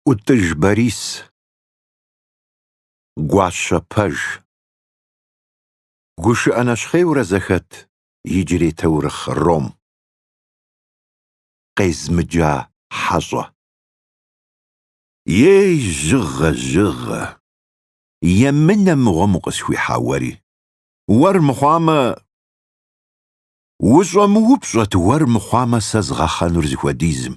ӏутӏыж Борис, гуащэ пэж, гушыӏэ нэщхъейурэ зэхэт иджырей таурыхъ ром, къезмыджа хьэщӏэ. Ей, жьыгъэ, жьыгъэ, емынэ мыгъуэм укъысхуихьа уэри. Уэр мыхъуамэ, ущӏэмыупщӏэт уэр мыхъуамэ сэ згъэхъэнур зыхуэдизым.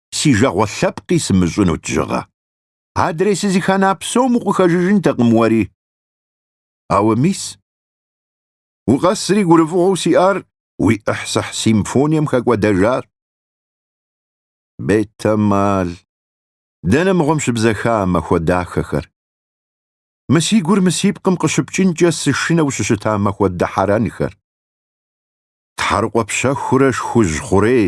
си жагъуэ лъэпкъи сымыщӏынут жьыгъэ. Адрей сызыхана псом укъыхэжыжынтэкъым уэри. Ауэ мис? Укъэсри гурыфӏыгъуэу сиӏар уи ӏыхьсыхь симфонием хэкӏуэдэжащ. Бетэмал, дэнэ мыгъуэм щыбзэха а махуэ дахэхэр? Мы си гур мы си пкъым къыщыпкӏынкӏэ сышынэу щыщыта махуэ дыхьэрэнхэр. Тхьэрыкъуэ пщэхурэ шхужь хъурей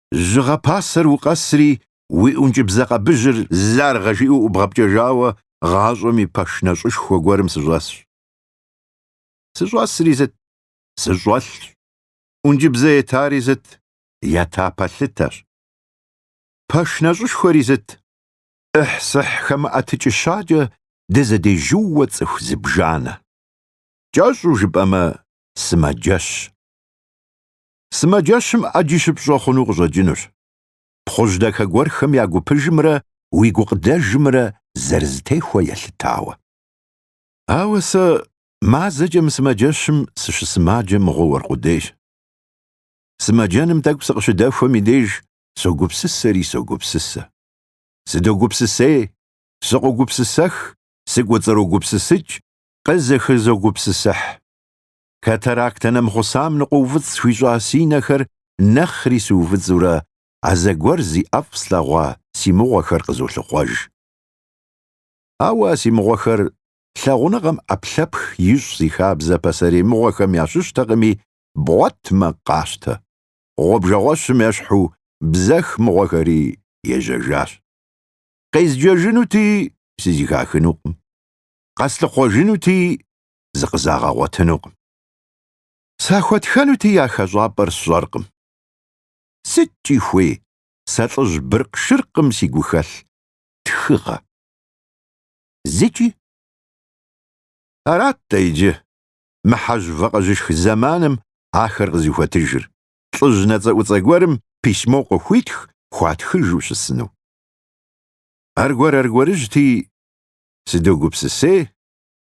Жьыгъэ пасэр укъэсри, уи ӏункӏыбзэ къэбыжьыр заргъэ жиӏэу ӏубгъэпкӏэжауэ гъащӏэм и пэш нэщӏышхуэ гуэрым сыщӏэсщ. Сыщӏэсри сыт? Сыщӏэлъщ. ӏункӏыбзэ етари сыт? Ета пэлъытэщ. Пэш нэщӏышхуэри сыт? ӏыхь-сыхь хэмыӏэтыкӏыщакӏэ дызэдежьууэ цӏыху зыбжанэ. Кӏэщӏу жыпӏэмэ, сымаджэщ. Сымаджэщым ӏэджи щыпщӏэ хъуну къыщӏэкӏынущ. Пхъужь дахэ гуэрхэм я гупыжымрэ уи гукъыдэжымрэ зэрызэтехуэ елъытауэ. Ауэ сэ мазэкӏэ мы сымаджэщым сыщысымаджэ мыгъуэу аркъудейщ. Сымаджэным тӏэкӏу сыкъыщыдэхуэм и деж согупсысэри согупсысэ. Сыдогупсысей, сыкъогупсысэх, сыкӏуэцӏрогупсысыкӏ, къызэхызогупсысыхь. Катарактэ нэмыхъусам ныкъуэуфӏыцӏ схуищӏа си нэхэр нэхъри сыуфӏыцӏурэ, а зэгуэр зи ӏэфӏ слъэгъуа си мыгъуэхэр къызолъыхъуэж. Ауэ а си мыгъуэхэр лъагъуныгъэм ӏэпхлъэпх ищӏ зи хабзэ пасэрей мыгъуэхэм ящыщтэкъыми, бгъуэтмэ, къащтэ. Гъуэбжэгъуэщым ещхьу бзэх мыгъуэхэри ежьэжащ. Къезджэжынути, сызэхахынукъым. Къэслъыхъуэжынути, зыкъызагъэгъуэтынукъым. Сахуэтхэнути я хэщӏапӏэр сщӏэркъым. Сыткӏи хуей, сэ лӏыжь быркъ-шыркъым си гухэлъ тхыгъэ. Зыкӏи? Арат-тӏэ иджы, мы хьэжь вакъэжьышх зэманым ахэр къызыхуэтыжыр, лӏыжь нэцӏэӏуцӏэ гуэрым письмо къыхуитх хуатхыжу щысыну. Аргуэр-аргуэрыжьти, сыдогупсысей,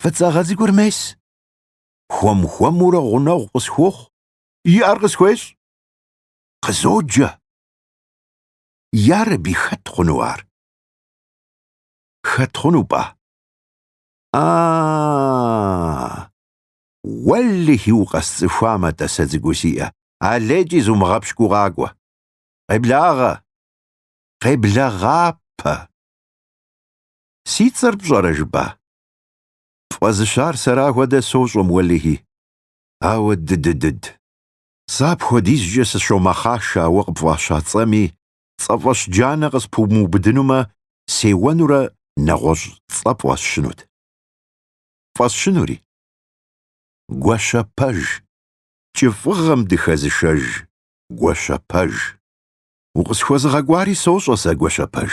Фӏыцӏагъэ цӏыкӏур мес. Хуэм-хуэмурэ гъунэгъу къысхуохъу. И ӏэр къысхуещӏ. Къызоджэ. Ярэби, хэт хъуну ар? Хэт хъуну пӏа? А, уэлэхьи укъэсцӏыхуамэ, тӏасэ цӏыкӏуу сиӏэ, алейкӏи зумыгъэпщкӏуу къакӏуэ. Къеблагъэ. Къеблэгъапэ. Си цӏэр пщӏэрэ жыпӏа? Пфӏэзыщар сэра хуэдэ сощӏэм, уэлэхьи. Ауэ ды-ды-дыд. Сэ апхуэдизкӏэ сыщомэхъашэ ауэ къыпфӏаща цӏэми, цӏэфӏэщ джанэ къыспумыубыдынумэ, сеуэнурэ нэгъуэщӏ цӏэ пфӏэсщынут. Пфӏэсщынури? Гуащэпэж. Кӏыфӏыгъэм дыхэзышэж Гуащэпэж. Укъысхуэзыгъэкӏуари сощӏэ сэ, Гуащэпэж.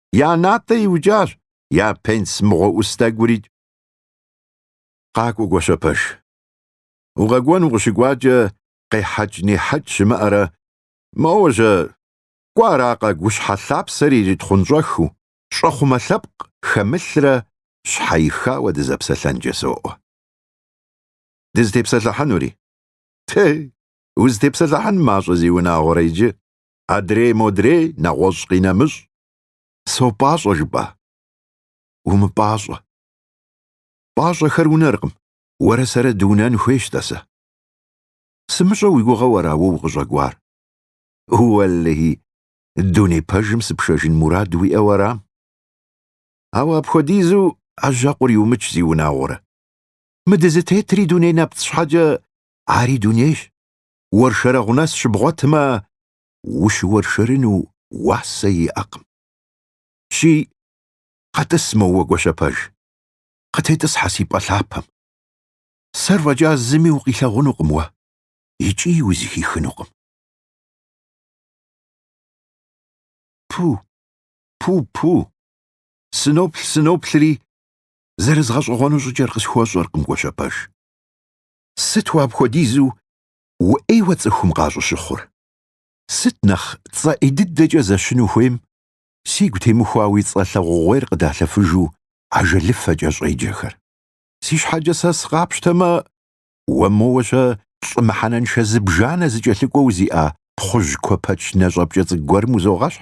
Я натӏэ иукӏащ, я пенс мыгъуэ ӏус тӏэкӏурикӏ. Къакӏуэ, Гуащэпэж. Укъэкӏуэн укъыщыкӏуакӏэ къехьэкӏ-нехьэкӏ щымыӏэрэ, моуэ-щэ, кӏуэ аракъэ гущхьэ лъапсэр иритхъунщӏэхыу, щӏэхъумэ лъэпкъ хэмылърэ щхьэихауэ дызэпсэлъэнкӏэ соӏуэ. Дызытепсэлъыхьынури? Тей, узытепсэлъыхьын мащӏэ зиунагъуэрэ иджы, Адрей модрей, нэгъуэщӏ къинэмыщӏ. Сопӏащӏэ жыпӏа? Умыпӏащӏэ. Пӏащӏэхэр унэркъым, уэрэ сэрэ дыунэн хуейщ, тӏасэ. Сымыщӏэ уи гугъэу ара уэ укъыщӏэкӏуар? Уэлэхьи, дуней пэжым сыпшэжын мурад уиӏэу арам? Ауэ апхуэдизу ӏэжьэкъур иумыч зиунагъуэрэ? Мы дызытетри дуней нэпцӏ щхьэкӏэ ари дунейщ. уэршэрэгъу нэс щыбгъуэтмэ, ущыуэршэрыну уасэ иӏэкъым. Щи, къэтӏыс моуэ Гуащэпэж, къытетӏысхьэ си пӏэ лъапэм. Сэр фӏэкӏа зыми укъилъэгъунукъым уэ икӏи узыхихынукъым. Пу, пу-пу, сыноплъ-сыноплъри, зэрызгъэщӏэгъуэну щӏыкӏэр къысхуэщӏэркъым, Гуащэпэж. Сыт уэ апхуэдизу уӏейуэ цӏыхум къащӏыщыхъур? Сыт нэхъ цӏэ ӏей дыдэкӏэ зэщыну хуейм, сигу темыхуа уи цӏэ лъагъугъуейр къыдалъэфыжу ажэлыфэкӏэ щӏеджэхэр? Си щхьэкӏэ сэ сыкъапщтэмэ, уэ моуэ-щэ лӏы мыхьэнэншэ зыбжанэ зыкӏэлъыкӏуэу зиӏа пхъужь куэпэч нэщӏэпкӏэ цӏыкӏу гуэрым узогъэщхь?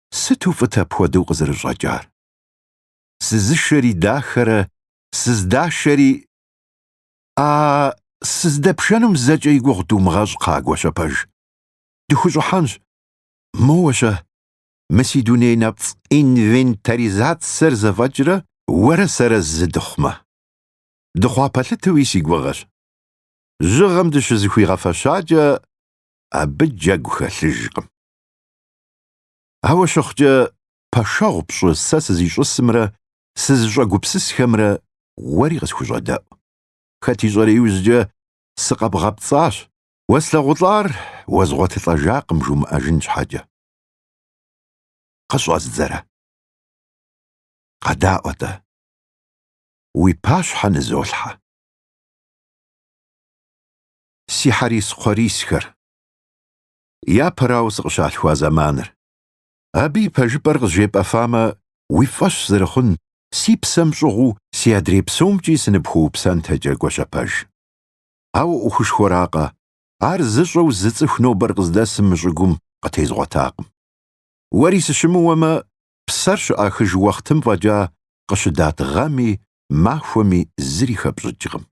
Сыту фӏыт апхуэдэу къызэрыщӏэкӏар! Сызышэри дахэрэ, сыздашэри… А сыздэпшэнум зэкӏэ и гугъу думыгъэщӏ, кхъаа Гуащэпэж. Дыхущӏыхьэнщ. Моуэ-щэ, мы си дуней нэпцӏ инвентаризацэр зэфӏэкӏрэ уэрэ сэрэ зы дыхъумэ. Дыхъуа пэлъытэуи си гугъэщ. Жьыгъэм дыщызыхуигъэфэщакӏэ, абы джэгу хэлъыжкъым. Ауэ щыхъукӏэ, пэшэгъу пщӏы сэ сызищӏысымрэ сызыщӏэгупсысхэмрэ уэри къысхущӏэдэӏу. Хэт ищӏэрэ иужькӏэ сыкъэбгъэпцӏащ, уэслъэгъулӏар уэзгъуэтылӏэжакъым жумыӏэжын щхьэкӏэ. Къыщӏэздзэрэ? Къэдаӏуэ-тӏэ. Уи пащхьэ нызолъхьэ. Си хьэрис-кхъуэрисхэр. Япэрауэ сыкъыщалъхуа зэманыр. Абы и пэжыпӏэр къызжепӏэфамэ, уи фӏэщ зэрыхъун, си псэм щӏыгъуу си адрей псомкӏи сыныпхуэупсэнтэкӏэ Гуащэпэж. Ауэ ӏуэхушхуэракъэ, ар зыщӏэу зы цӏыху нобэр къыздэсым мы щӏыгум къытезгъуэтакъым. Уэри сыщымыуэмэ, псэр щыӏахыж уэхътым фӏэкӏа къыщыдат гъэми, махуэми зыри хэпщӏыкӏкъым.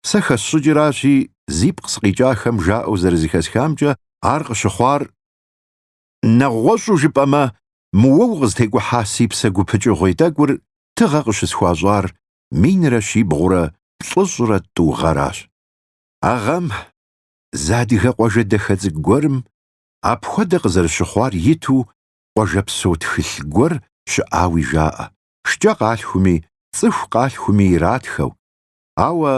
Сэ хэсщӏыкӏыращи, зи пкъ сыкъикӏахэм жаӏэу зэрызэхэсхамкӏэ, ар къыщыхъуар, нэгъуэщӏу жыпӏэмэ, мы уэ укъызытекӏухьа си псэ гупыкӏыгъуей тӏэкӏур тыгъэ къыщысхуащӏар минрэ щибгъурэ плӏыщӏрэ тӏу гъэращ. А гъэм, зы адыгэ къуажэ дахэ цӏыкӏу гуэрым, апхуэдэ къызэрыщыхъуар иту, къуажэпсо тхылъ гуэр щыӏауи жаӏэ, шкӏэ къалъхуми, цӏыху къалъхуми иратхэу, Ауэ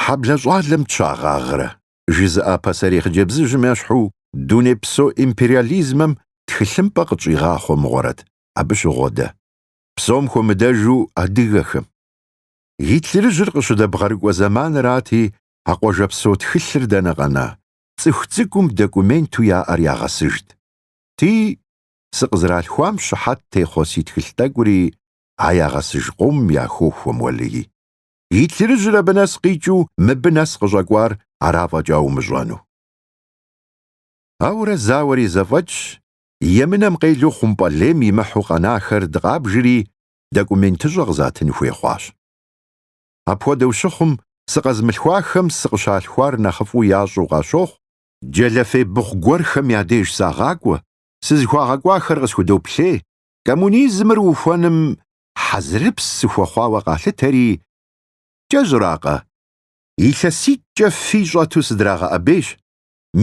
хьэблэ щӏалэм тщагъэгърэ? жызыӏа пасэрей хъыджэбзыжьым ещхьу дунейпсо империализмэм тхылъымпӏэ къытщӏигъахъуэ мыгъуэрэт? Абы щыгъуэдэ, псом хуэмыдэжу адыгэхэм. Гитлерыжьыр къыщыдэбгъэрыкӏуэ зэманырати, а къуажэпсо тхылъыр дэнэ къэна, цӏыху цӏыкӏум документу яӏэр ягъэсыжт. Ти, сыкъызэралъхуам щыхьэт техъуэ си тхылъ тӏэкӏури А ягъэсыж къомым яхохуэ, уэлеи. Гитлерыжьыр абы нэс къикӏыу мыбы нэс къыщӏэкӏуар ара фӏэкӏа умыщӏэну. Ауэрэ зауэри зэфӏэкӏщ, емынэм къелу хъумпӏэлейм имыхьу къэнахэр дыкъабжри, документыщӏэ къызатын хуей хъуащ. Апхуэдэу щыхъум, сыкъэзмылъхуахэм сыкъыщалъхуар нэхъыфӏу ящӏэу къащохъу, джэлэфей быхъу гуэрхэм я деж сагъакӏуэ, сызыхуагъэкӏуахэр къысхудоплъей, Коммунизмыр ухуэным хьэзырыпс сыхуэхъуауэ къалъытэри, кӏэщӏракъэ, илъэситӏкӏэ фий щӏэту сыдрагъэӏэбейщ,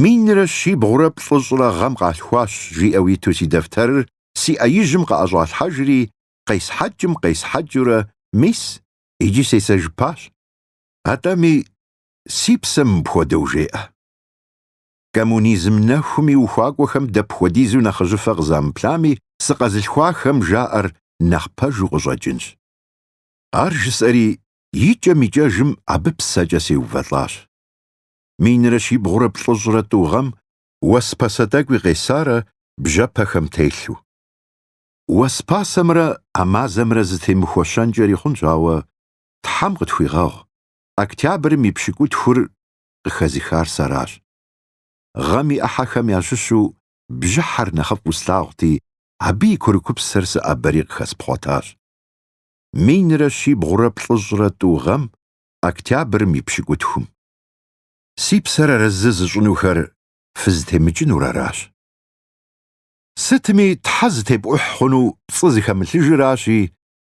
минрэ щибгъурэ плӏыщӏрэ гъэм къалъхуащ, жиӏэу иту си дэфтэрыр си ӏэ ижьым къыӏэщӏалъхьэжри, къесхьэкӏым къесхьэкӏыурэ мис иджи сесэжыпащ. Атӏэми, си псэм мыпхуэдэу жеӏэ. коммунизм нэхум и ухуакӏуэхэм дапхуэдизу нэхъыжьыфэ къызамыплъами, сыкъэзылъхуахэм жаӏэр нэхъ пэжу къыщӏэкӏынщ. Ар жысӏэри, икӏэм-икӏэжым абы псэкӏэ сеувэлӏащ. Минрэ щибгъурэ плӏыщӏрэ тӏу гъэм уэс пасэ тӏэкӏуи къесарэ бжьэпэхэм телъу. Уэс пасэмрэ а мазэмрэ зытемыхуэщэнкӏэри хъунщ, ауэ, Тхьэм къытхуигъэгъу, октябрым и пщыкӏутхур къыхэзыхар сэращ. Гъэм и ӏыхьэхэм ящыщу бжьыхьэр нэхъыфӏу слъагъути, абы и курыкупсэр сыӏэбэри къыхэспхъуэтащ. Минрэ щибгъурэ плӏыщӏрэ тӏу гъэм, октябрым и пщыкӏутхум. Си псэр арэзы зыщӏынухэр фызытемыкӏынур аращ. Сытми, Тхьэ зытепӏухь хъуну пцӏы зыхэмылъыжыращи,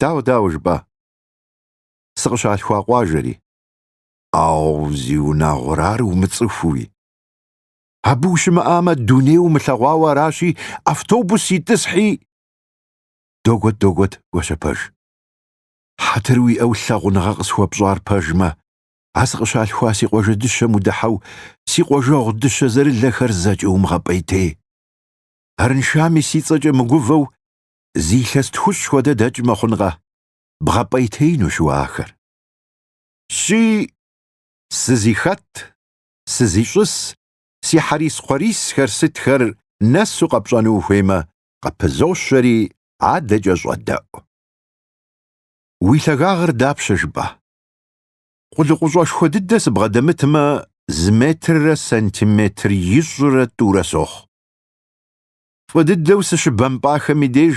Дауэ, дауэ жыпӏа? Сыкъыщалъхуа къуажэри. Ау, зиунагъуэрэ, ар умыцӏыхууи. Абы ущымыӏамэ, дуней умылъэгъуауэ аращи, автобус итӏысхьи. Догуэт, догуэт, Гуащэпэж. Хьэтыр уиӏэу лъагъуныгъэ къысхуэпщӏар пэжмэ, а сыкъыщалъхуа си къуажэ дыщэм удыхьэу си къуажэгъу дыщэзэрылэхэр зэкӏэ умыгъэпӏейтей. Арыншами си цӏэкӏэ мыгувэу, Зы илъэс тхущӏ хуэдэ дэкӏмэ хъункъэ, бгъэпӏейтеинущ уэ ахэр. Щи, сызихэт, сызищӏыс, си хьэрис-кхъуэрисхэр сытхэр нэсу къэпщӏэну ухуеймэ, къыпызощэри адэкӏэ щӏэдэӏу. Уи лъагагъыр дапщэ жыпӏа? Къулыкъущӏэшхуэ дыдэ сыбгъэдэмытмэ, зы метррэ сантиметр ищӏрэ тӏурэ сохъу. Фӏы дыдэу сыщыбэмпӏахэм и деж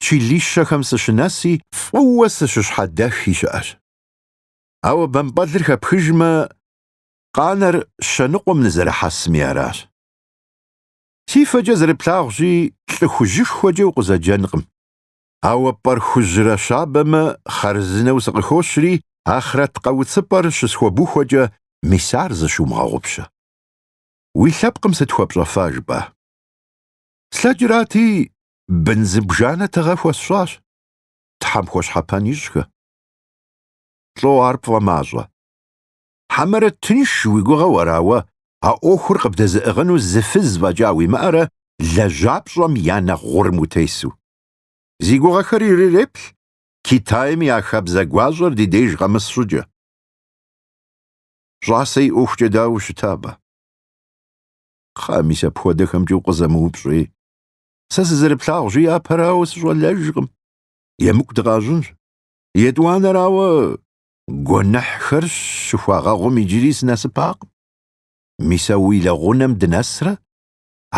чилищэхэм сыщынэси, фӏыуэ сыщыщхьэдэхи щыӏэщ. Ауэ бэмпӏэлыр хэпхыжмэ, къанэр щэныкъуэм нызэрыхьэсми аращ. Си фэкӏэ зэрыплъагъущи, лӏы хужьышхуэкӏэ укъызэджэнкъым. Ауэ пӏэр хужьрэ щабэмэ, хъарзынэу сыкъыхощри, ахърэт къэуцыпӏэр щысхуэбухуэкӏэ, мис ар зыщумыгъэгъупщэ. Уи лъэпкъым сыт хуэпщӏэфа жыпӏа? Слъэкӏрати, бын зыбжанэ тыгъэ хуэсщӏащ, Тхьэм хуэщхьэпэн ищӏхэ. Лӏо ар пфӏэмащӏэ. Хьэмэрэ тынш уи гугъэу ара уэ а ӏуэхур къыбдэзыӏыгъыну зы фыз фӏэкӏа уимыӏэрэ лэжьапщӏэм я нэхъ гъурым утесу? Зи гугъэхэр ириреплъ Китайм я хабзэ гуащӏэр ди деж къэмыс щӏыкӏэ. Щӏасэ и ӏуэхукӏэ дауэ ущыта абы? Кхъэ, мис апхуэдэхэмкӏэ укъызэмыупщӏи. Сэ сызэрыплъагъущи, япэрауэ сыщӏэлэжкъым. Емыкӏу дыкъащӏынщ. Етӏуанэрауэ, гуэныхьхэр щыхуагъэгъум иджыри сынэсыпакъым. Мис а уи лэгъунэм дынэсрэ,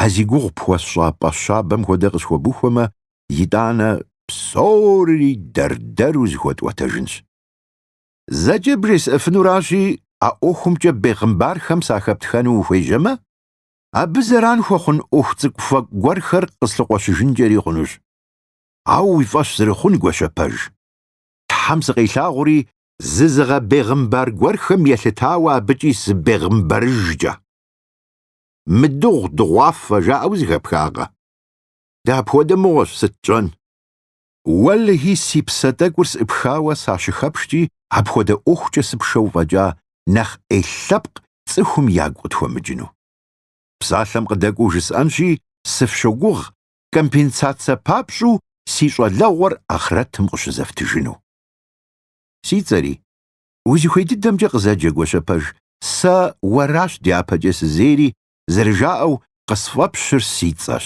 а зи гугъу пхуэсщӏа пӏэ щабэм хуэдэ къысхуэбухуэмэ, итӏанэ псори дэр-дэру зыхуэтӏуэтэжынщ. Зэкӏэ бжесӏэфынуращи, а ӏуэхумкӏэ бегъымбархэм сахэптхэну ухуежьэмэ, абы зэран хуэхъун ӏуэху цӏыкӏуфэкӏу гуэрхэр къыслъыкъуэщыжынкӏэри хъунущ. Ауэ уи фӏэщ зэрыхъун, Гуащэпэж. Тхьэм сыкъилъагъури, зызыгъэбегъымбар гуэрхэм елъытауэ абыкӏи сыбегъымбарыжкӏэ. Мыдыгъу дыгъуафэ жаӏэу зэхэпхакъэ? Дапхуэдэ мыгъуэщ, сыт тщӏэн? Уэлэхьи, си псэ тӏэкӏур сӏыпхауэ сащыхэпшкӏи, апхуэдэ ӏуэхукӏэ сыпшэу фӏэкӏа нэхъ ӏей лъэпкъ цӏыхум ягу къытхуэмыкӏыну. Псалъэм къыдэкӏуэу жысӏэнщи, сыфщогугъ, компенсацэ папщӏу си щӏалэгъуэр ахърэтым къыщызэфтыжыну. Си цӏэри, узыхуей дыдэмкӏэ къызэджэ Гуащэпэж, сэ уэращ дяпэкӏэ сызейри, зэрыжаӏэу, къысфӏэпщыр си цӏэщ.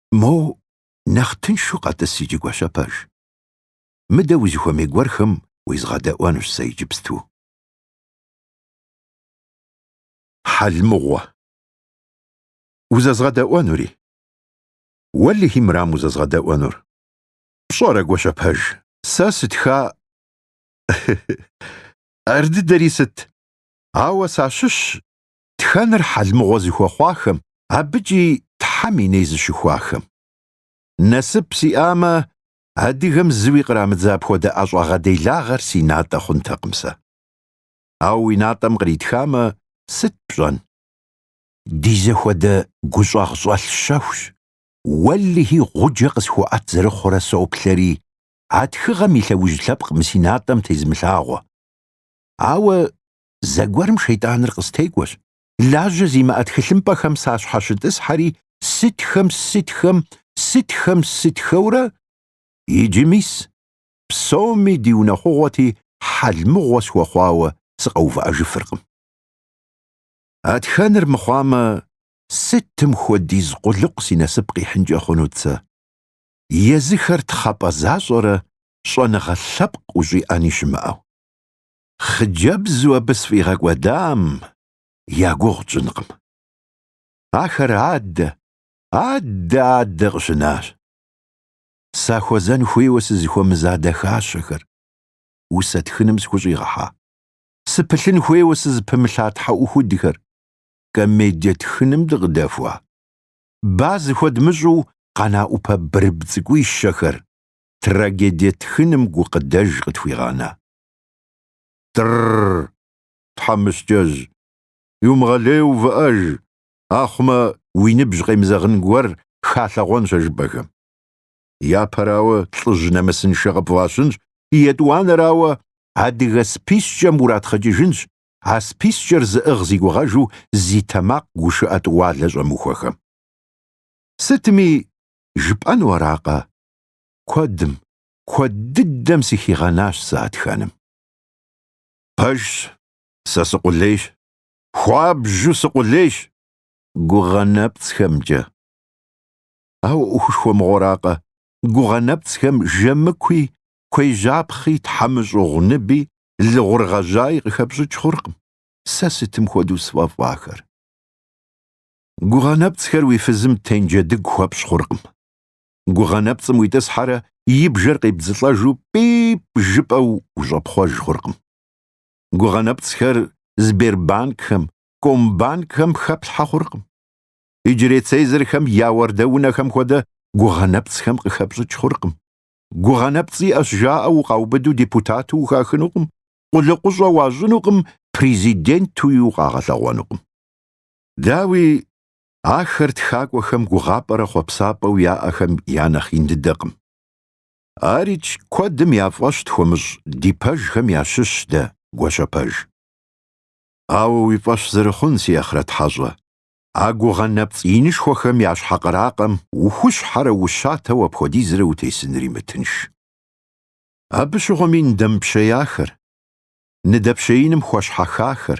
Моуэ нэхъ тыншу къэтӏыс иджы Гуащэпэж. Мыдэ узыхуэмей гуэрхэм уезгъэдэӏуэнущ сэ иджыпсту. Хьэлмыгъуэ. Узэзгъэдэӏуэнури? Уэлэхьи мырам узэзгъэдэӏуэнур. Пщӏэрэ, Гуащэпэж, сэ сытха Ар дыдэри сыт? Ауэ сащыщщ тхэныр хьэлмыгъуэ зыхуэхъуахэм, абыкӏи Тхьэм и ней зыщыхуахэм. Насып сиӏамэ, адыгэм зыуи кърамыдза апхуэдэ ӏэщӏагъэ делагъэр си натӏэ хъунтэкъым сэ. Ауэ уи натӏэм къритхамэ, сыт пщӏэн? Ди зэхуэдэ гущӏагъщӏэлъ щэхущ, уэлэхьи, гъуджэ къысхуэӏэт зэрыхъурэ соплъэри, а тхыгъэм и лъэужь лъэпкъ мы си натӏэм тезымылъагъуэ. Ауэ Зэгуэрым шейтӏаныр къыстекӏуэщ, лажьэ зимыӏэ тхылъымпӏэхэм сащхьэщытӏысхьэри, сытхэм, сытхэм, сытхэм, сытхэурэ, иджы, мис, псоми ди унэхъугъуэти хьэл мыгъуэ схуэхъуауэ сыкъэувыӏэжыфыркъым. А тхэныр мыхъуамэ, сытым хуэдиз къулыкъу си насып къихьынкӏэ хъунут сэ? Езыхэр тхъэпӏэ защӏэрэ щӏэныгъэ лъэпкъ ущӏиӏэни щымыӏэу. Хъыджэбзу абы сфӏигъэкӏуэдам я гугъу тщӏынкъым. Ахэр адэ, адэ, адэ къыщынащ. Сахуэзэн хуейуэ сызыхуэмыза дахащэхэр, усэ тхыным сыхущӏигъэхьа, сыпылъын хуейуэ сызыпымылъа тхьэӏухудхэр, комедие тхыным дыкъыдэхуа, ба зыхуэдмыщӏу къэна ӏупэ бырыб цӏыкӏуищэхэр, трагедие тхыным гукъыдэж къытхуигъэна. Тр-р-р! Тхьэмыщкӏэжь, иумыгъэлейуэ увыӏэж, ахъумэ, уи ныбжь къемызэгъын гуэр халъэгъуэнщ а жыпӏэхэм. Япэрауэ, лӏыжь нэмысыншэ къыпфӏащынщ, етӏуанэрауэ, адыгэ спискӏэм уратхъыкӏыжынщ, а спискӏэр зыӏыгъ зигугъэжу зи тэмакъ гушыӏэ тӏуалэ щӏэмыхуэхэм. Сытми, жыпӏэну аракъэ? Куэдым, куэд дыдэм сыхигъэнащ сэ а тхэным. Пэжщ, сэ сыкъулейщ, хуабжьу сыкъулейщ гугъэ нэпцӏхэмкӏэ. Ауэ ӏуэхушхуэ мыгъуэракъэ, гугъэ нэпцӏхэм жэмыкуи, кхъуейжьапхъи, тхьэмщӏыгъуныби, лыгъур гъэжьаи къыхэпщӏыкӏ хъуркъым сэ сытым хуэдэу сфӏэфӏахэр. Гугъэ нэпцӏхэр уи фызым тенджэдыгу хуэпщӏ хъуркъым. гугъэ нэпцӏым уитӏысхьэрэ и бжэр къебдзылӏэжу пӏип жыпӏэу ущӏэпхъуэж хъуркъым. Гугъэ нэпцӏхэр Сбербанкхэм, Комбанкхэм хэплъхьэ хъуркъым. Иджырей цезырхэм я уардэ унэхэм хуэдэ гугъэ нэпцӏхэм къыхэпщӏыкӏ хъуркъым. Гугъэ нэпцӏ иӏэщ жаӏэу укъаубыду депутату ухахынукъым, къулыкъущӏэ уащӏынукъым, президентуи укъагъэлъэгъуэнукъым. Дауи, Ахэр тхакӏуэхэм гугъапӏэрэ хъуэпсапӏэу яӏэхэм я нэхъ ин дыдэкъым. Арикӏ, куэдым я фӏэщ тхуэмыщӏ ди пэжхэм ящыщщ дэ, Гуащэпэж. Ауэ уи фӏэщ зэрыхъун, си Ахърэт Хьэщӏэ, а гугъэ нэпцӏ инышхуэхэм я щхьэ къракъэм ухущхьэрэ ущатэу апхуэдизрэ утесынри мытынш. Абы щыгъуэми ныдэмыпщеяхэр, ныдэпщеиным хуэщхьэхахэр,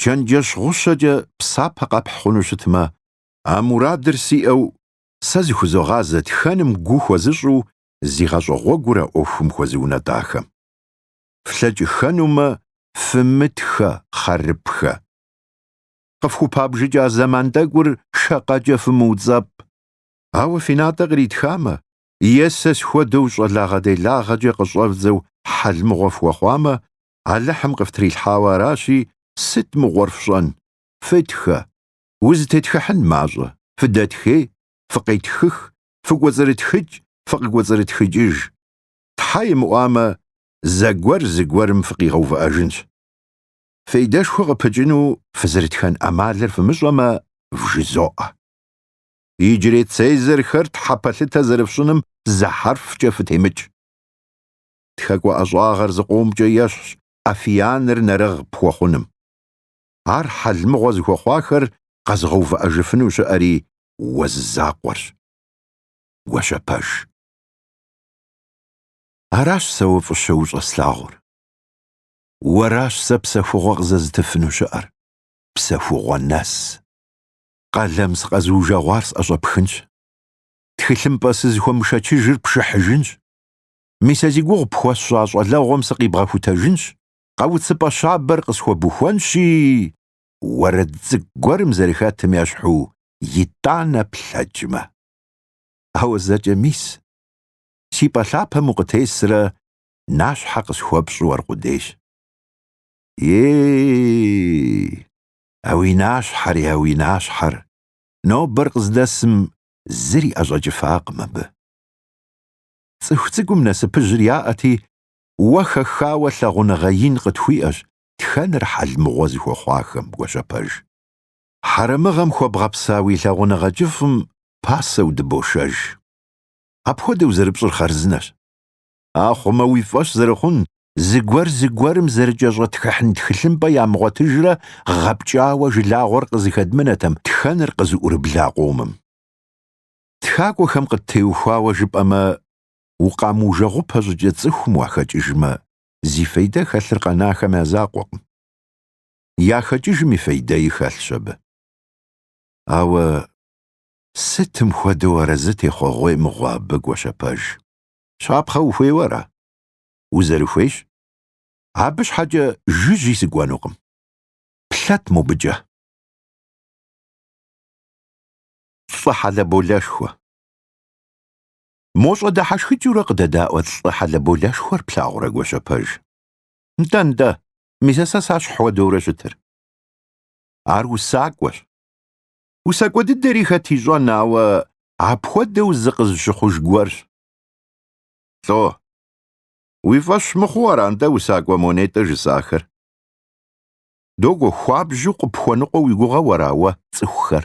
чэнджэщ гъущэкӏэ псапэ къэпхь хъуну щытмэ, а мурадыр сиӏэу сэ зыхузогъазэ тхэным гу хуэзыщӏу зи гъащӏэ гъуэгур а ӏуэхум хуэзыунэтӏахэм. Флъэкӏыхэнумэ, фымытхэ, хъарыпхэ. Къыфхупабжыкӏа зэман тӏэкӏур шакъэкӏэ фымыуцӏэпӏ. Ауэ фи натӏэ къритхамэ, е сэ схуэдэу щӏалагъэ-делагъэкӏэ къыщӏэвдзэу хьэлмыгъуэ фхуэхъуамэ, Алыхьым къыфтрилъхьауэ аращи, сыт мыгъуэр фщӏэн? Фытхэ! Узытетхыхьын мащӏэ, фыдэтхей, фыкъетхых, фыкӏуэцӏрытхыкӏ, фыкъыкӏуэцӏрытхыкӏыж. Тхьэ имыӏуамэ, зэгуэр зыгуэрым фыкъигъэувыӏэжынщ. Фейдэшхуэ къыпыкӏыну фызэрытхэн ӏэмалыр фымыщӏэмэ, вжызоӏэ. Иджырей Цезарьхэр тхьэпэлъытэ зэрыфщӏыным зы хьэрфкӏэ фытемыкӏ. тхакӏуэ ӏэщӏагъэр зыкъомкӏэ ещхьщ афияныр нэрыгъ пхуэхъуным. Ар хьэлмыгъуэ зыхуэхъуахэр къэзыгъэувыӏэжыфыну щыӏэри уэ зы закъуэрщ. Гуащэпэж. Аращ сэ уэ фӏыщэ ущӏэслъагъур. Уэращ сэ псэхугъуэ къызэзытыфыну щыӏэр, псэхугъуэ нэс. Къалэм сыкъэзыужэгъуар сӏэщӏэпхынщ. Тхылъымпӏэ сызыхуэмышэчыжыр пшыхьыжынщ. мис а зи гугъу пхуэсщӏа щӏалэгъуэм сыкъибгъэхутэжынщ, къауц пӏэ щабэр къысхуэбухуэнщи, уэрэд цӏыкӏу гуэрым зэрыхэтым ещхьу итӏанэ плъэкӏмэ. Ауэ зэкӏэ мис, си пӏэ лъапэм укъытесрэ нащхьэ къысхуэпщӏу аркъудейщ. Ей, а уи нащхьэри, а уи нащхьэр, нобэр къыздэсым зыри ӏэщӏэкӏыфакъым абы. Цӏыху цӏыкӏум насыпыжьыр яӏэти, уэ хэхауэ лъагъуныгъэ ин къытхууиӏэщ тхэныр хьэлмыгъуэ зыхуэхъуахэм, Гуащэпэж. Хьэрэмыгъэм хуэбгъэпса уи лъагъуныгъэ кӏыфӏым пасэу дыбошэж. Апхуэдэу зэрыпщӏыр хъарзынэщ. Ахъумэ уи фӏэщ зэрыхъун зыгуэр зыгуэрым зэрыкӏэщӏэтхыхьын тхылъымпӏэ ямыгъуэтыжрэ гъэпкӏауэ жылагъуэр къызыхэдмынэтэм тхэныр къызыӏурыбла къомым. Тхакӏуэхэм къыттеухуауэ жыпӏэмэ, укъамыужэгъупэ щӏыкӏэ цӏыхум уахэкӏыжмэ, зи фейдэ хэлъыр къэнахэм я закъуэкъым. Яхэкӏыжым и фейдэи хэлъщ абы. Ауэ сытым хуэдэу арэзы техъуэгъуей мыгъуэ абы, Гуащэпэж? Щапхъэ ухуейуэ ара? Узэрыхуейщ. Абы щхьэкӏэ жыжьи сыкӏуэнукъым. Плъэт мобыкӏэ. лӏы хьэлэболэшхуэ. Мо щӏэдыхьэшхыкӏыурэ къыдэдаӏуэ лӏы хьэлэболэшхуэр плъагъурэ Гуащэпэж? Нтӏэ-нтӏэ, мис а сэ сэщхь хуэдэурэ щытыр. Ар усакӏуэщ. Усакӏуэ дыдэри хэт ищӏэн, ауэ апхуэдэу зыкъызыщыхъуж гуэрщ. Лӏо, уи фӏэщ мыхъуу ара нтӏэ усакӏуэ мо нетӏэ жысӏахэр? Догуэ, хуабжьу къыпхуэныкъуэ уи гугъэу ара уэ, цӏыхухэр?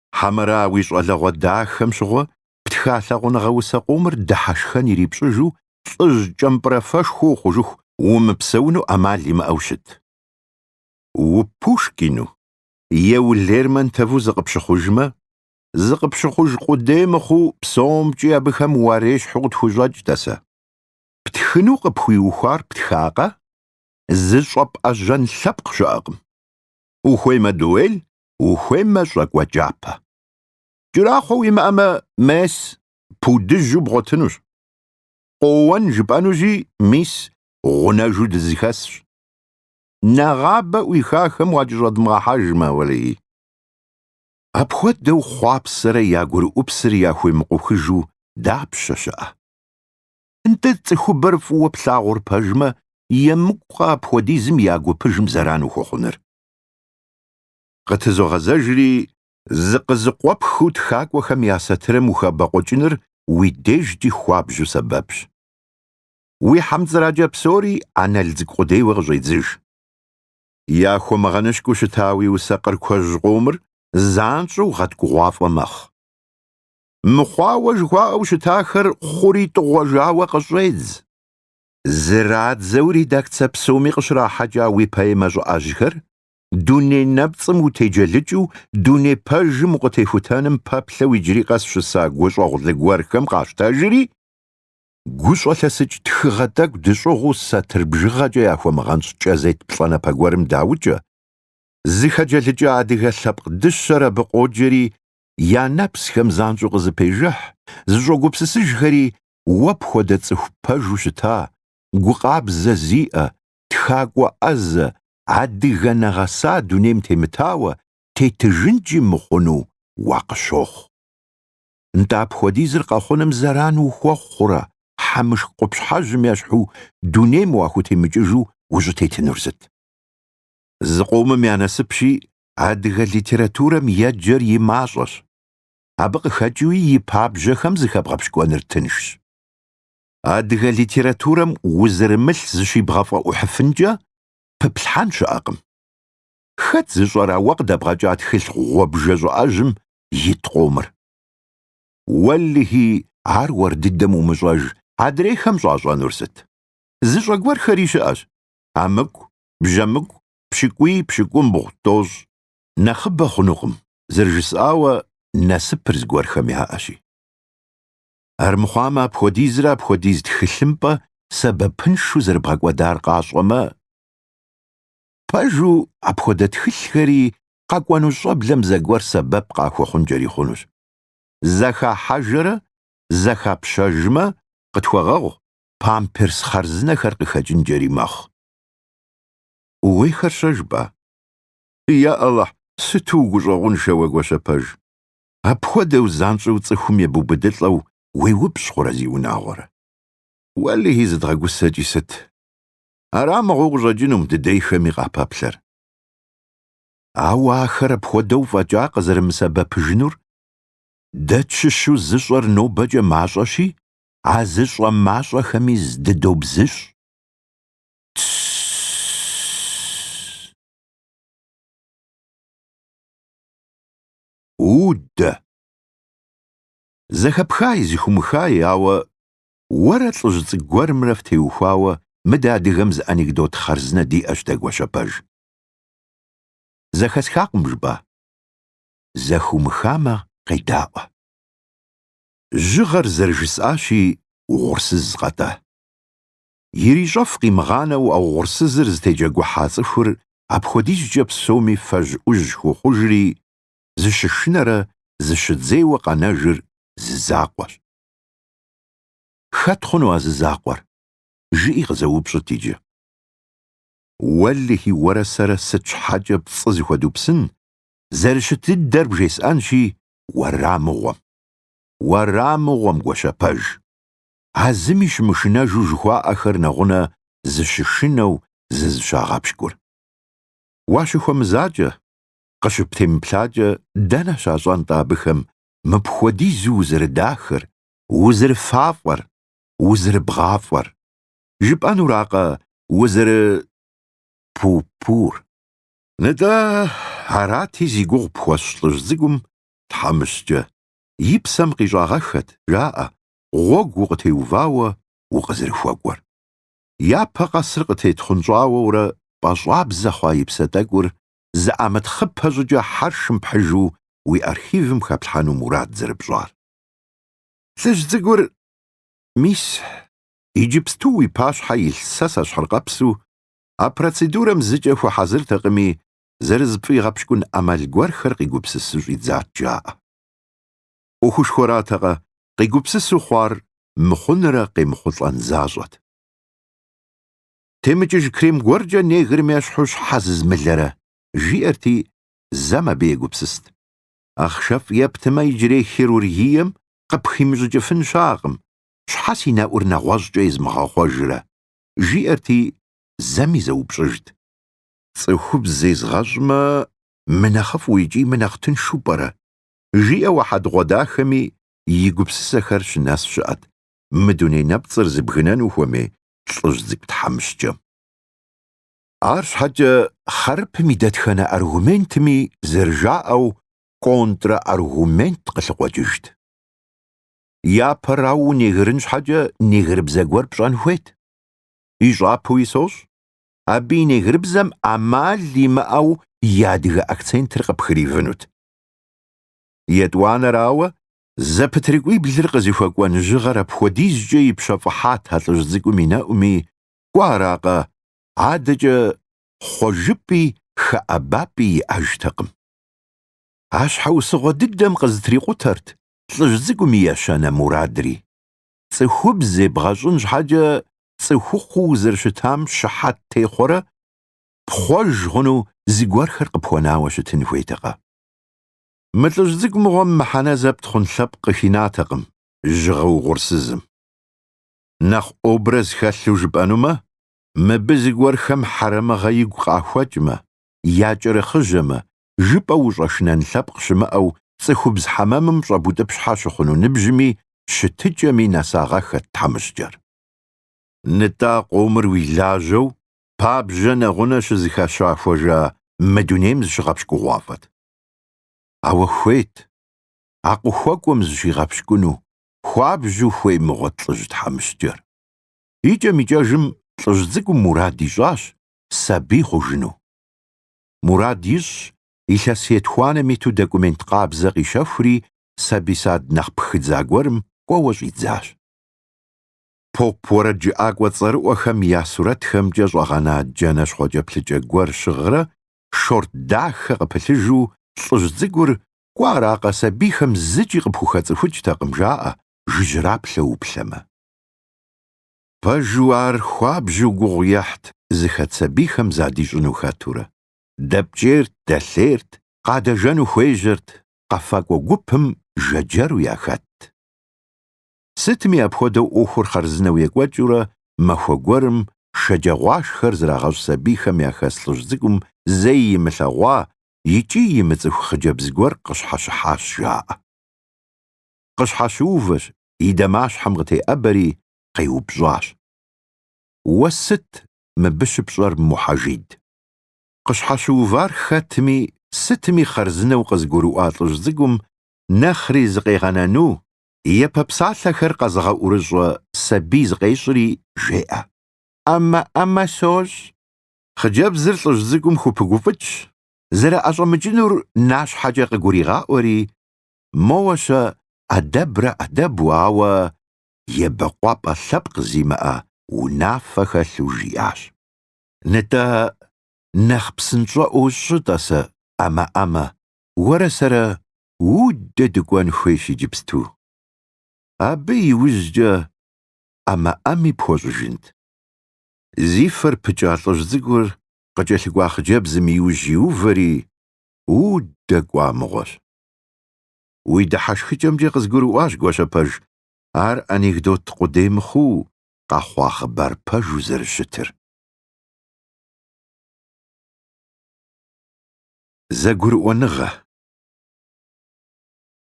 Хьэмэрэ уи щӏалэгъуэ дахэм щыгъуэ птха лъагъуныгъэ усэ къомыр дыхьэшхэн ирипщӏыжу лӏыжь кӏэмпӏрэфэшхуэ ухъужыху умыпсэуну ӏэмал имыӏэу щыт. УПушкину е уЛермонтову зыкъыпщыхъужмэ, зыкъыпщыхъуж къудей мыхъуу псомкӏи абыхэм уарещхьу къытхущӏэкӏ, тӏасэ. Птхыну къыпхуиухуар птхакъэ? Зыщӏэпӏэжьэн лъэпкъ щыӏэкъым. Ухуеймэ дуэль ухуеймэ щӏакӏуэкӏапэ. Кӏэрахъуэ уимыӏэмэ, мес пудыжьу бгъуэтынущ. Къоуэн жыпӏэнущи, мис гъунэжу дызыхэсщ. Нэгъабэ ӏуихахэм уакӏэщӏэдмыгъэхьэжмэ, уэлэхьи. Апхуэдэу хъуапсэрэ я гурыӏупсыр яхуемыкъухыжу дапщэ щыӏэ? Нтӏэ, цӏыхубэр фӏыуэ плъагъур пэжмэ, емыкӏукъэ апхуэдизым я гупыжым зэран ухуэхъуныр? Къытызогъэзэжри, зыкъызыкъуэпхыу тхакӏуэхэм я сатырым ухэбэкъуэкӏыныр уи дежкӏи хуабжьу сэбэпщ. Уи хьэмцӏыракӏэ псори аналдзк къудейуэ къыщӏедзыж. Яхуэмыгъэнышкӏыу щыта уи усэ къыркуэжь къомыр занщӏэу гъэткӏугъуафӏэ мэхъу. Мыхъуауэ жыхуаӏэу щытахэр хъури тӏыгъуэжауэ къыщӏедз. Зырадзэу редакцэ псоми къыщрахьэкӏа уи поэмэ щӏыӏэжьхэр дуней нэпцӏым утеджэлыкӏыу дуней пэжым укъытехутэным пэплъэу иджыри къэс щыса гущӏэгъулы гуэрхэм къащтэжри, гущӏэлъэсыкӏ тхыгъэ тӏэкӏу дыщӏыгъуу сатыр бжыгъэкӏэ яхуэмыгъэнщӏ кӏэзет плӏанэпэ гуэрым даукӏэ, зыхэджэлыкӏа адыгэ лъэпкъ дыщэр абы къоджэри, я нэпсхэм занщӏэу къызэпежыхь, зыщӏогупсысыжхэри уэ пхуэдэ цӏыху пэжу щыта, гукъабзэ зиӏэ, тхакӏуэ ӏэзэ, адыгэ нэгъэса дунейм темытауэ тетыжынкӏи мыхъуну уакъыщохъу. Нтӏэ апхуэдизыр къэхъуным зэран ухуэхъу хъурэ, хьэмышх къупщхьэжьым ещхьу дунейм уахутемыкӏыжу ущӏытетынур сыт? Зыкъомым я насыпщи, адыгэ литературэм еджэр и мащӏэщ, абы къыхэкӏыуи и пабжьэхэм зыхэбгъэпщкӏуэныр тыншщ. адыгэ литературэм узырымылъ зыщибгъэфӏэӏухьыфынкӏэ пыплъхьэн щыӏэкъым. Хэт зыщӏэра уэ къыдэбгъэкӏа тхылъ гъуэбжэ щӏыӏэжьым ит къомыр? Уэлэхьи, ар уэр дыдэм умыщӏэж, адрейхэм щӏащӏэнур сыт? Зыщӏэ гуэрхэри щыӏэщ, амыку, бжьэмыку, пщыкӏуий, пщыкӏумбгъу, тӏощӏ. Нэхъыбэ хъунукъым, зэрыжысӏауэ, насыпыр зыгуэрхэм яӏэщи. Армыхъуамэ, апхуэдизрэ апхуэдиз тхылъымпӏэ сэбэпыншу зэрыбгъэкӏуэдар къащӏэмэ, пэжу апхуэдэ тхылъхэри къэкӏуэну щӏэблэм зэгуэр сэбэп къахуэхъункӏэри хъунущ. Зэхахьэжэрэ зэхапщэжмэ, къытхуэгъэгъу, памперс хъарзынэхэр къыхэкӏынкӏэри мэхъу. Ууейхэр-щэ жыпӏа? Я Алыхь, сыту угущӏэгъуншэ уэ, Гуащэпэж! Апхуэдэу занщӏэу цӏыхум ебубыдылӏэу уеупщӏ хъурэ зи унагъуэрэ? Уэлэхьи, зыдгъэгусэкӏи сыт? Арамыгъуэу къыщӏэкӏынум дыдейхэми къапэплъэр. Ауэ ахэр апхуэдэу фӏэкӏа къызэрымысэбэпыжынур дэ тщыщу зыщӏэр нобэкӏэ мащӏэщи, а зыщӏэ мащӏэхэми здыдобзыщӏ. Тсс. Удэ. Зэхэпхай, зыхумыхай, ауэ уэрэ лӏыжь цӏыкӏу гуэрымрэ фтеухуауэ мы дэ адыгэм зы анекдот хъарзынэ диӏэщ дэ, Гуащэпэж. Зэхэсхакъым жыпӏа? Зэхумыхамэ, къедаӏуэ. Жьыгъэр зэрыжысӏащи, угъурсыз къэтӏэ. Ирищӏэф къимыгъанэу а угъурсызыр зытеджэгухьа цӏыхур апхуэдизкӏэ псоми фэжь-ӏужь хуохъужри, зыщышынэрэ зыщыдзейуэ къэнэжыр зы закъуэщ. Хэт хъуну а зы закъуэр? жыӏи къызэупщӏыт иджы. Уэлэхьи, уэрэ сэрэ сыт щхьэкӏэ пцӏы зыхуэдупсын, зэрыщыт дыдэр бжесӏэнщи, уэрамыгъуэм. Уэрамыгъуэм, Гуащэпэж! а зыми щымышынэжу жыхуаӏэхэр нэгъунэ зыщышынэу зызыщагъэпщкӏур. Уащыхуэмызакӏэ, къыщыптемыплъакӏэ дэнэ щащӏэн-тӏэ абыхэм мыпхуэдизу узэрыдахэр, узэрыфафӏэр, узэрыбгъафӏэр? Жыпӏэнуракъэ, узэры... пу-пур? Нтӏэ, арати зи гугъу пхуэсщӏ лӏыжь цӏыкӏум, тхьэмыщкӏэ, и псэм къищӏагъэххэт, жаӏэ, гъуэгу укъытеувауэ укъызэрыхуэкӏуэр. Япэ къэсыр къытетхъунщӏауэурэ пӏэщӏабзэ хъуа и псэ тӏэкӏур зэӏэмытхъыпэ щӏыкӏэ хьэршым пхьыжу уи архивым хэплъхьэну мурад зэрыпщӏар. Лӏыжь цӏыкӏур, мис, иджыпсту уи пащхьэ илъ сэ сэщхьыркъэпсу, а процедурэм зыкӏэ хуэхьэзыртэкъыми, зэрызыпфӏигъэпщкӏун ӏэмал гуэрхэр къигупсысу щӏидзат жаӏэ. ӏуэхушхуэратэкъэ, къигупсысу хъуар мыхъунрэ къемыхъулӏэн защӏэт. Темыкӏыж крем гуэркӏэ негрым ещхьу щхьэ зызмылэрэ? жиӏэрти, зэм абы егупсыст. Ахъшэфӏ ептымэ иджырей хирургием къыпхимыщӏыкӏыфын щыӏэкъым, щхьэ си нэӏур нэгъуэщӏкӏэ езмыгъэхъуэжрэ? жиӏэрти, зэми зэупщӏыжт. Цӏыхубз зезгъэщӏмэ, мынэхъыфӏу икӏи мынэхъ тыншу пӏэрэ? жиӏэу а хьэдгъуэдахэми и гупсысэхэр щынэс щыӏэт, мы дуней нэпцӏыр зыбгынэну хуэмей лӏыжь цӏыкӏу тхьэмыщкӏэм. Арщхьэкӏэ хъарыпым и дэтхэнэ аргументми зэрыжаӏэу контраргумент къылъыкъуэкӏыжт. Япэрауэ унегрын щхьэкӏэ негрыбзэ гуэр пщӏэн хуейт. Ищӏапэуи сощӏ, абы и негрыбзэм ӏэмал имыӏэу и адыгэ акцентыр къыпхыривынут. Етӏуанэрауэ, зэпытрикӏуиблыр къызыхуэкӏуэн жьыгъэр апхуэдизкӏэ ипщэфӏыхьат а лӏыжь цӏыкӏум и нэӏуми, кӏуэ аракъэ, адэкӏэ хъуэжыпӏи хэӏэбапӏи иӏэжтэкъым. А щхьэусыгъуэ дыдэм къызэтрикъутэрт лӏыжь цӏыкӏум и ещанэ мурадри, цӏыхубз зебгъэщӏын щхьэкӏэ цӏыхухъуу узэрыщытам щыхьэт техъуэрэ пхъуэж хъуну зыгуэрхэр къыпхуэнауэ щытын хуейтэкъэ? Мы лӏыжь цӏыкӏу мыгъуэм мыхьэнэ зэпт хъун лъэпкъ къыхинатэкъым жьыгъэ угъурсызым. Нэхъ образ хэлъу жыпӏэнумэ, мыбы зыгуэрхэм хьэрэмыгъэ игу къахуэкӏмэ, якӏэрыхъыжьэмэ, жыпӏэу ущӏэшнэн лъэпкъ щымыӏэу цӏыхубз хьэмэмым щӏэбутӏыпщхьэ щыхъуну ныбжьми щытыкӏэми нэсагъэххэт тхьэмыщкӏэр. Нытӏэ, а къомыр уи лажьэу, пабжьэ нэгъунэ щызэхащэхужа мы дунейм зыщыгъэпщкӏугъуафӏэт. Ауэ хуейт а къыхуэкӏуэм зыщигъэпщкӏуну хуабжьу хуей мыгъуэт лӏыжь тхьэмыщкӏэр. Икӏэм-икӏэжым лӏыжь цӏыкӏум мурад ищӏащ сабий хъужыну. Мурад ищӏщ, илъэс етхуанэм иту документ къабзэ къищэхури сабий сад нэхъ пхыдза гуэрым кӏуэуэ щӏидзащ. поп уэрэджыӏакӏуэ цӏэрыӏуэхэм я сурэтхэмкӏэ щӏэгъэна джанэ щхъуэкӏэплъыкӏэ гуэр щыгърэ шорт дахэ къыпылъыжу лӏыжь цӏыкӏур кӏуэ аракъэ сабийхэм зыкӏи къыпхухэцӏыхукӏтэкъым жаӏэ жыжьраплъэу уплъэмэ. Пэжу ар хуабжьу гугъу ехьт зыхэт сабийхэм задищӏыну хэтурэ, дэпкӏейрт, дэлъейрт, къадэжэну хуежьэрт, къэфакӏуэ гупым жэджэру яхэтт. Сытми апхуэдэу ӏуэхур хъарзынэу екӏуэкӏыурэ махуэ гуэрым шэджагъуашхэр зрагъэщӏ сабийхэм яхэс лӏыжь цӏыкӏум зэи имылъэгъуа икӏи имыцӏыху хъыджэбз гуэр къыщхьэщыхьащ жаӏэ. Къыщхьэщыувэщ, и дамащхьэм къытеӏэбэри, къеупщӏащ. Уэ сыт мыбы щыпщӏэр, Мухьэжид? Къыщхьэщыувар хэтми, сытми хъарзынэу къызгурыӏуа лӏыжь цӏыкӏум нэхъри зыкъегъэнану япэ псалъэхэр къэзыгъэӏурыщӏэ сабий зыкъещӏри жеӏэ. ӏэмэ-ӏэмэ сощӏ. Хъыджэбзыр лӏыжь цӏыкӏум хупыгуфӏыкӏщ, зэрыӏэщӏэмыкӏынур нащхьэкӏэ къыгуригъаӏуэри, Моуэ-щэ, ӏэдэбрэ ӏэдэбу, ауэ ебэкъуапӏэ лъэпкъ зимыӏэ унафэ хэлъу жиӏащ. Нтӏэ, нэхъ псынщӏэӏуэу щӏы, тӏасэ, ӏэмэ-ӏэмэ, уэрэ сэрэ Уддэ дыкӏуэн хуейщ иджыпсту. Абы иужькӏэ ӏэмэ-ӏэми пхуэщӏыжынт. Зи фэр пыкӏа лӏыжь цӏыкӏур къыкӏэлъыкӏуа хъыджэбзым иужь иувэри Уддэ кӏуа мыгъуэщ. Уи дыхьэшхыкӏэмкӏэ къызгурыӏуащ Гуащэпэж ар анекдот къудей мыхъуу къэхъуа хъыбар пэжу зэрыщытыр. Зэгурыӏуэныгъэ,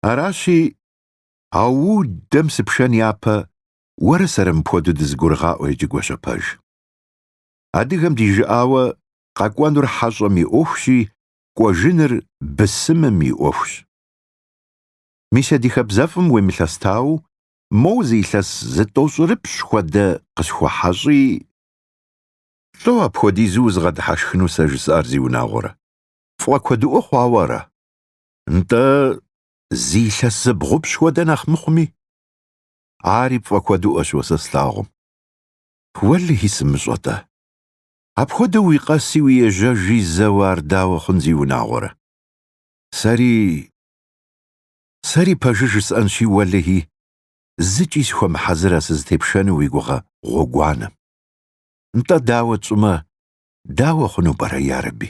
Аращи, а Уддэм сыпшэн япэ уэрэ сэрэ мыпхуэдэу дызэгурыгъаӏуэ иджы Гуащэпэж. Адыгэм ди жыӏауэ къэкӏуэнур хьэщӏэм и ӏуэхущи, кӏуэжыныр бысымым и ӏуэхущ. Мис а ди хэбзэфӏым уемылъэстауэ, моуэ зы илъэс зытӏощӏырыпщӏ хуэдэ къысхуэхьэщӏи, Лӏо апхуэдизу узыгъэдыхьэшхыну сэ жысӏар зиунагъуэрэ? Пфӏэкуэдыӏуэ хъуауэ ара? Нтӏэ, зы илъэс зыбгъупщӏ хуэдэ нэхъ мыхъуми. Ари пфӏэкуэдыӏуэщ уэ сэ слъагъум. Уэлэхьи, сымыщӏэ-тӏэ. Апхуэдэу уи къэси уи ежьэжи зэуэ ар дауэ хъун зиунагъуэрэ? Сэри... Сэри пэжыр жысӏэнщи, уэлэхьи, зыкӏи сыхуэмыхьэзырэ сызытепшэну уи гугъэ гъуэгуанэм. Нтӏэ, дауэ тщӏымэ, дауэ хъуну пӏэрэ, ярэби?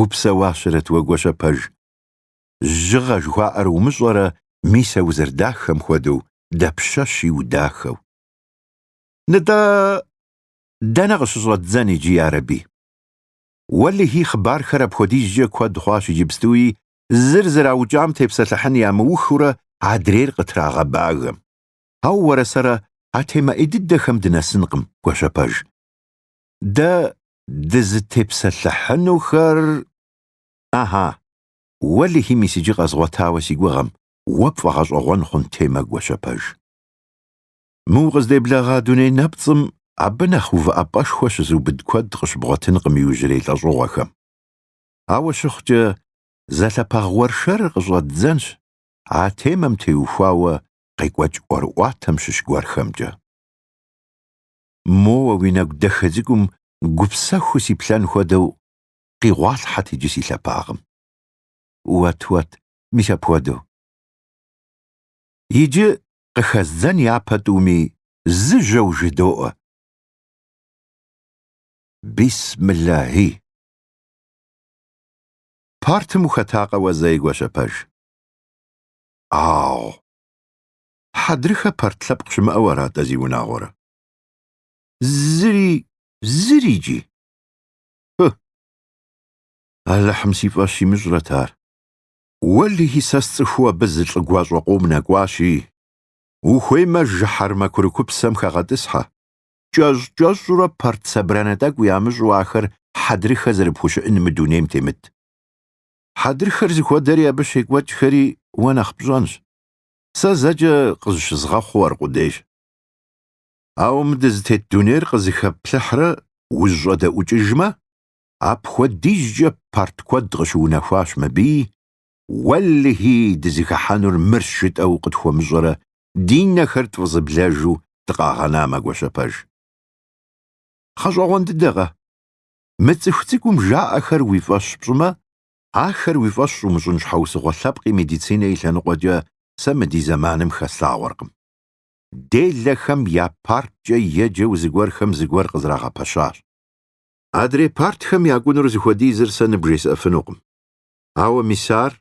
Упсэуащэрэт уэ, Гуащэпэж. Жьыгъэ жыхуаӏэр умыщӏэрэ мис а узэрыдахэм хуэдэу дапщэщи удахэу. Нытӏэ, дэнэ къыщыщӏэддзэн иджы ярэби. Уэлэхьи хъыбархэр апхуэдизкӏэ куэд хъуащ иджыпстуи, зыр зэраукӏам тепсэлъыхьын ямыухыурэ адрейр къытрагъэбагэм. Ауэ уэрэ сэрэ а темэ ӏей дыдэхэм дынэсынкъым, Гуащэпэж. Дэ дызытепсэлъыхьынухэр Ахьа, уэлэхьи мис иджы къэзгъуэтауэ си гугъэм, уэ пфӏэгъэщӏэгъуэн хъун темэ Гуащэпэж. Мы укъыздэблэгъа дуней нэпцӏым абы нэхъ увыӏэпӏэшхуэ щызыубыд куэд къыщыбгъуэтынкъым иужьрей лӏэщӏыгъуэхэм. Ауэ щыхъукӏэ, зэлъэпагъ уэршэрыр къыщӏэддзэнщ а темэм теухуауэ къекӏуэкӏ ӏуэрыӏуатэм щыщ гуэрхэмкӏэ. моуэ уи нэгу дахэ цӏыкӏум гупсэхуу сиплъэн хуэдэу къигъуалъхьэт иджы си лъапагъым. Уэт, уэт, мис апхуэдэу. Иджы къыхэздзэн япэ тӏуми, зы жьэу жыдоӏэ. Бисмиллахьи! Партым ухэтакъэ уэ зэи, Гуащэпэж? Ау! Хьэдрыхэ парт лъэпкъ щымыӏэу арат-тӏэ зи унагъуэрэ? Зыри, зырикӏи. Хы! Алыхьым си фӏэщ имыщӏрэт ар. Уэлэхьи, сэ сцӏыхуу абы зы лӏы гуащӏэ къом нэкӏуащи, ухуеймэ, жыхьэрмэ курыкупсэм хэгъэтӏысхьэ. Кӏэщӏ-кӏэщӏурэ парт собранэ тӏэкӏу ямыщӏу ахэр хьэдрыхэ зэрыпхущыӏэн мы дунейм темыт. Хьэдрыхэр зыхуэдэри абы щекӏуэкӏхэри уэ нэхъ пщӏэнщ. Сэ зэкӏэ къызыщызгъэхъуу аркъудейщ. Ауэ мы дызытет дунейр къызэхэпплъыхьрэ узыщӏэдэӏукӏыжмэ, апхуэдизкӏэ парт куэд къыщыунэхуащ мыбыи, Уэлэхьи, дызыхыхьэнур мырщ жытӏэу къытхуэмыщӏэрэ ди нэхэр тфӏызэблэжу дыкъагъэнамэ Гуащэпэж. Гъэщӏэгъуэн дыдэкъэ. Мы цӏыху цӏыкӏум жаӏэхэр уи фӏэщ пщӏымэ, Ахэр уи фӏэщ щӏумыщӏын щхьэусыгъуэ лъэпкъи медицинэ и лъэныкъуэкӏэ сэ мы ди зэманым хэслъагъуэркъым. Делэхэм я парткӏэ еджэу зыгуэрхэм зыгуэр къызрагъэпэщащ. Адрей партхэм я кӏуэнур зыхуэдизыр сэ ныбжесӏэфынукъым. Ауэ мис ар,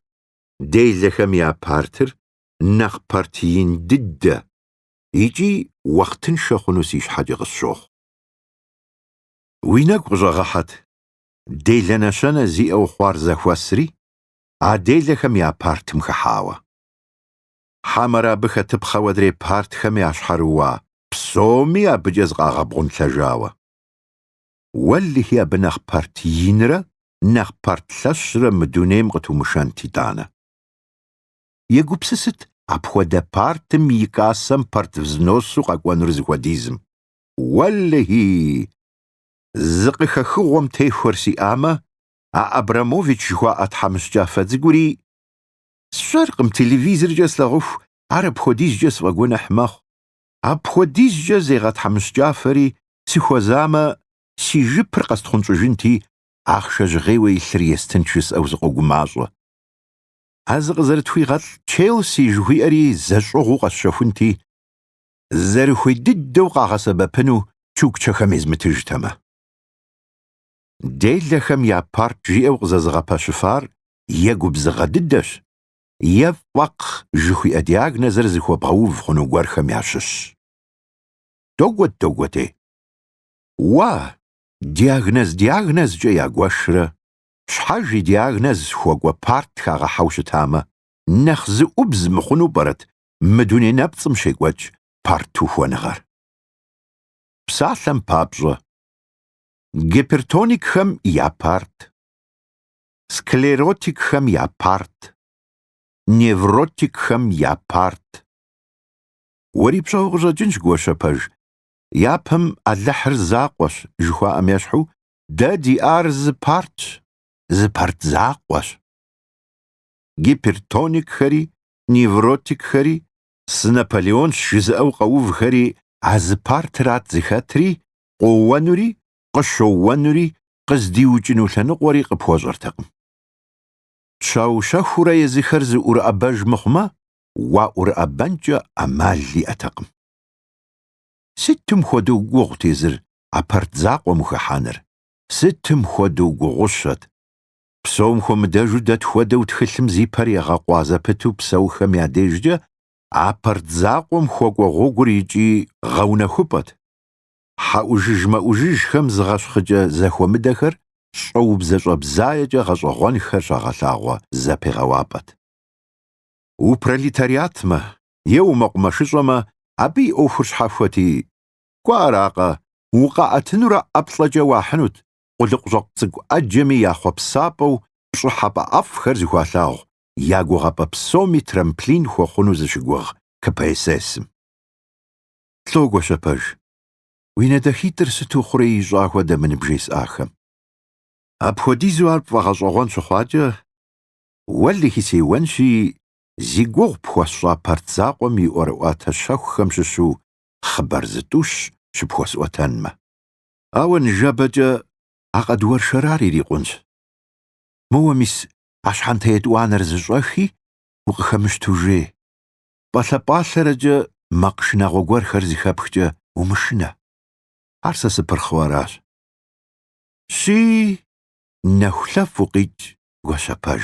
делэхэм я партыр, нэхъ парт ин дыдэ икӏи уахътыншэ хъуну си щхьэкӏэ къысщохъу. Уи нэгу къыщӏэгъэхьэт, делэ нэщэнэ зиӏэу хъуар зэхуэсри, а делэхэм я партым хыхьауэ. Хьэмэрэ абы хэтыпхъэу адрей партхэм ящхьэрыуа псоми абыкӏэ зыкъагъэбгъунлъэжауэ. Уэлэхи, абы нэхъ парт инрэ нэхъ парт лъэщрэ мы дунейм къытумышэнт итӏанэ. Егупсысыт апхуэдэ партым и кассэм парт взносу къэкӏуэнур зыхуэдизым. Уэлэхи! Зы къыхэхыгъуэм техуэр сиӏамэ, а Абрамович жыхуаӏэ тхьэмыщкӏафэ цӏыкӏури, сщӏэркъым, телевизоркӏэ слъагъуху ар апхуэдизкӏэ сфӏэгуэныхь мэхъу. Апхуэдизкӏэ зегъэтхьэмыщкӏафэри сыхуэзамэ, си жыпыр къэстхъунщӏыжынти, ахъшэ жьгъейуэ илъыр естынт жысӏэу сыкъогумащӏэ. А зыкъызэрытхуигъэлӏ Челси жыхуиӏэри зэщӏыгъуу къэсщэхунти, зэрыхуей дыдэу къагъэсэбэпыну чукчэхэм езмытыжтэмэ. Делэхэм я парт жиӏэу къызэзыгъэпэщыфар е губзыгъэ дыдэщ, е фӏэкъ жыхуиӏэ диагнозыр зыхуэбгъэув хъуну гуэрхэм ящыщщ. Догуэт-догуэти. Уа, диагноз диагнозкӏэ ягуэшрэ, щхьэж и диагноз хуэкӏуэ парт хагъэхьэу щытамэ, нэхъ зэӏубз мыхъуну пӏэрэт мы дуней нэпцӏым щекӏуэкӏ партухуэныгъэр. Псалъэм папщӏэ, гипертоникхэм я парт, склеротикхэм я парт, невротикхэм я парт. Уэри пщӏэу къыщӏэкӏынщ, Гуащэпэж, япэм Алыхьыр закъуэщ жыхуаӏэм ещхьу, дэ диӏар зы партщ, зы парт закъуэщ. Гипертоникхэри невротикхэри, Сы Наполеонщ жызыӏэу къэувхэри а зы партрат зыхэтри, къоуэнури, къыщоуэнури, къыздиукӏыну лъэныкъуэри къыпхуэщӏэртэкъым. Щэху-щэхуурэ езыхэр зыӏурыӏэбэж мыхъумэ, уаӏурыӏэбэнкӏэ ӏэмал иӏэтэкъым. Сытым хуэдэу гугъут езыр а парт закъуэм хыхьэныр, сытым хуэдэу гугъущэт! псом хуэмыдэжу дэ тхуэдэу тхылъым зи пэр егъэкъуа зэпыту псэухэм я дежкӏэ а парт закъуэм хуэкӏуэ гъуэгур икӏи гъэунэхупӏэт. Хьэӏужыж-мэӏужыжхэм зыгъэщхъыкӏэ зэхуэмыдэхэр щӏэубзэ-щӏэбзаекӏэ гъэщӏэгъуэнхэр щагъэлъагъуэ зэпегъэуапӏэт. Упролетариатмэ е умэкъумэшыщӏэмэ абы и ӏуэхур щхьэхуэти, кӏуэ аракъэ, укъаӏэтынурэ ӏэплӏэкӏэ уахьынут, къулыкъущӏэкъу цӏыкӏу ӏэджэми я хъуэпсапӏэу пщӏыхьэпӏэ ӏэфӏхэр зыхуалъагъу я гугъэпӏэ псоми трамплин хуэхъуну зыщыгугъ КПСС-м. Лӏо Гуащэпэж, уи нэ дахитӏыр сыту хъурей ищӏа хуэдэ мы ныбжесӏахэм. Апхуэдизу ар пфӏэгъэщӏэгъуэн щыхъуакӏэ, уэлэхьи сеуэнщи, зи гугъу пхуэсщӏа парт закъуэм и ӏуэрыӏуатэ щэхухэм щыщу хъыбар зытӏущ щыпхуэсӏуэтэнмэ. Ауэ ныжэбэкӏэ а къэдуэршэрар ирикъунщ. Моуэ мис а щхьэнтэ етӏуанэр зыщӏэхи, укъыхэмыщту жей. Пӏалъэ-пӏалъэрэкӏэ макъ шынагъуэ гуэрхэр зыхэпхкӏэ умышынэ. Ар сэ сыпырхъыу аращ. Щи, нэхулъэфӏ укъикӏ, Гуащэпэж.